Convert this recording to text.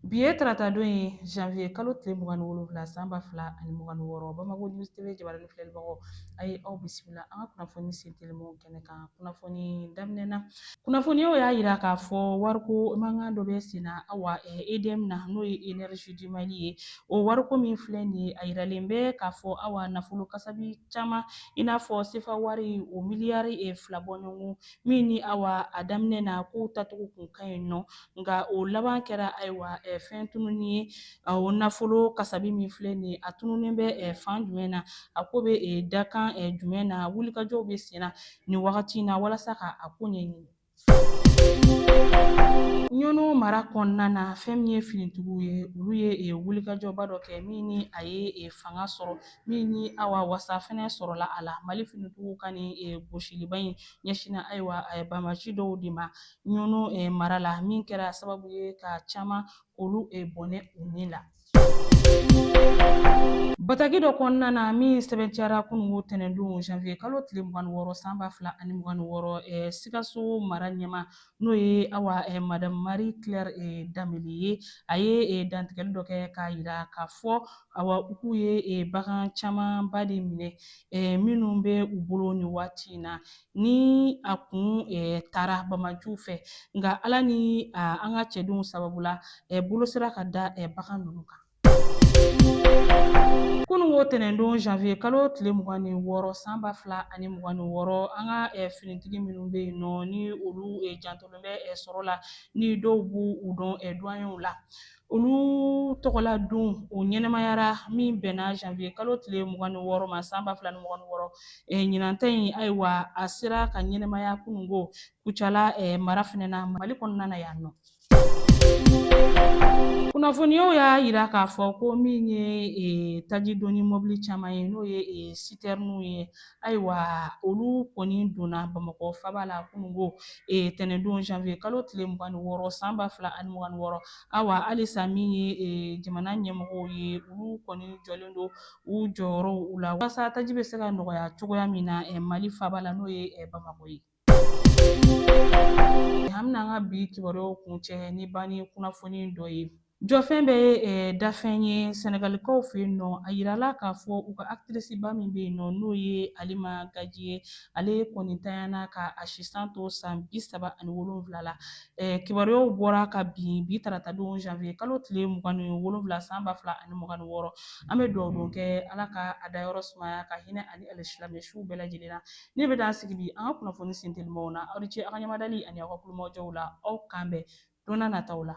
Bi ye taratadon ye janvier kalo tile mugan ni wolonwula san ba fila ani mugan ni wɔɔrɔ Bamako News TV jabarani filɛlibagaw a ye aw bisimila an ka kunnafoni sen telimanw kɛnɛ kan kunnafoni daminɛ na kunnafoniyaw y'a yira k'a fɔ wariko mankan dɔ bɛ sen na awa EDM na n'o ye Energie du Mali ye o wariko min filɛ nin ye a yiralen bɛ k'a fɔ awa nafolo kasabi caman i n'a fɔ sefa wari o miliyari fila bɔɲɔgɔn min ni awa a daminɛ na kow tacogo kun ka ɲi nɔ nka o laban kɛra ayiwa fɛn tununi ye o nafolo kasabi min filɛ nin ye a tununnen bɛ fan jumɛn na a ko bɛ dakan jumɛn na wulikajɔw bɛ sen na nin wagati in na walasa ka a ko ɲɛɲini ɲɔnɔ mara kɔnɔna na fɛn min ye finitigiw ye olu ye e, wulikajɔba dɔ kɛ min ni a ye e, fanga sɔrɔ min ni awa wasa fɛnɛ sɔrɔla a la mali finitigiw ka nin e, gosiliba in ɲɛsinna ayiwa banbaanci dɔw de ma ɲɔnɔ eh, mara la min kɛra sababu ye ka caman k'olu eh, bɔnɛ u ni la bataki dɔ kɔnɔna na min sɛbɛntiyara kunungo tɛnɛndon janvier kalo tile mugan ni wɔɔrɔ san ba fila ani mugan ni wɔɔrɔ eh, sikaso mara ɲɛmaa n'o ye awa eh, madame marie claire eh, dembele ye a ye eh, dantigɛli dɔ kɛ k'a yira k'a fɔ awa u k'u ye eh, bagan camanba de minɛ eh, minnu bɛ u bolo nin waati in na ni a kun taara banbaanciw fɛ nka ala ni an ka cɛdenw sababu la bolo sera ka da bagan ninnu kan kununko tɛnɛndon janvier kalo tile mugan ni wɔɔrɔ san ba fila ani mugan ni wɔɔrɔ an ka finitigi minnu bɛ yen nɔ ni olu jantolen bɛ sɔrɔ la ni dɔw b'u dɔn duwanyew la Olu tɔgɔla don o ɲɛnɛmayara min bɛnna janvier kalo tile mugan ni wɔɔrɔ ma san ba fila ni mugan ni wɔɔrɔ eh, ɲinan ta in ayiwa a sera ka ɲɛnɛmaya kunungo kucala eh, mara fɛnɛ na mali kɔnɔna na yan nɔ kunnafoniyaw y'a yira k'a fɔ ko min ye eh, taji doni mɔbili caman ye n'o ye eh, sitɛriniw ye ayiwa olu kɔni donna bamakɔ faba la kunungo e, tɛnɛndon janvier kalo tile mugan ni wɔɔrɔ san ba fila ani mugan ni wɔɔrɔ awa halisa min ye e, jamana ɲɛmɔgɔw ye olu kɔni jɔlen don u jɔyɔrɔw u la walasa taji bɛ se ka nɔgɔya cogoya min na e, mali faba la n'o ye e, bamakɔ ye An bɛna an ka bi kibaruyaw kuncɛ ni banni kunnafoni dɔ ye. Jɔfɛn bɛɛ dafɛn ye sɛnɛgalikaw fɛ yen nɔ, a yirala k'a fɔ u ka aktrisiba min bɛ yen nɔ n'o ye Halima Gadji ye, ale kɔni ntanyana ka a si san to san bi saba ani wolonwula la. Kibaruyaw bɔra kabi bi taratadon janvier kalo tile mugan ni wolonwula san ba fila ani mugan ni wɔɔrɔ, an bɛ dugawudon kɛ Ala ka a dayɔrɔ sumaya ka hinɛ a ni alisilamɛsuw bɛɛ lajɛlen na. Ne bɛ dan sigi bi an ka kunnafoni sentelimaw na aw ni ce aw ka ɲamadali ani aw ka tulomajɔw la aw k'an bɛn don n'a nataw la.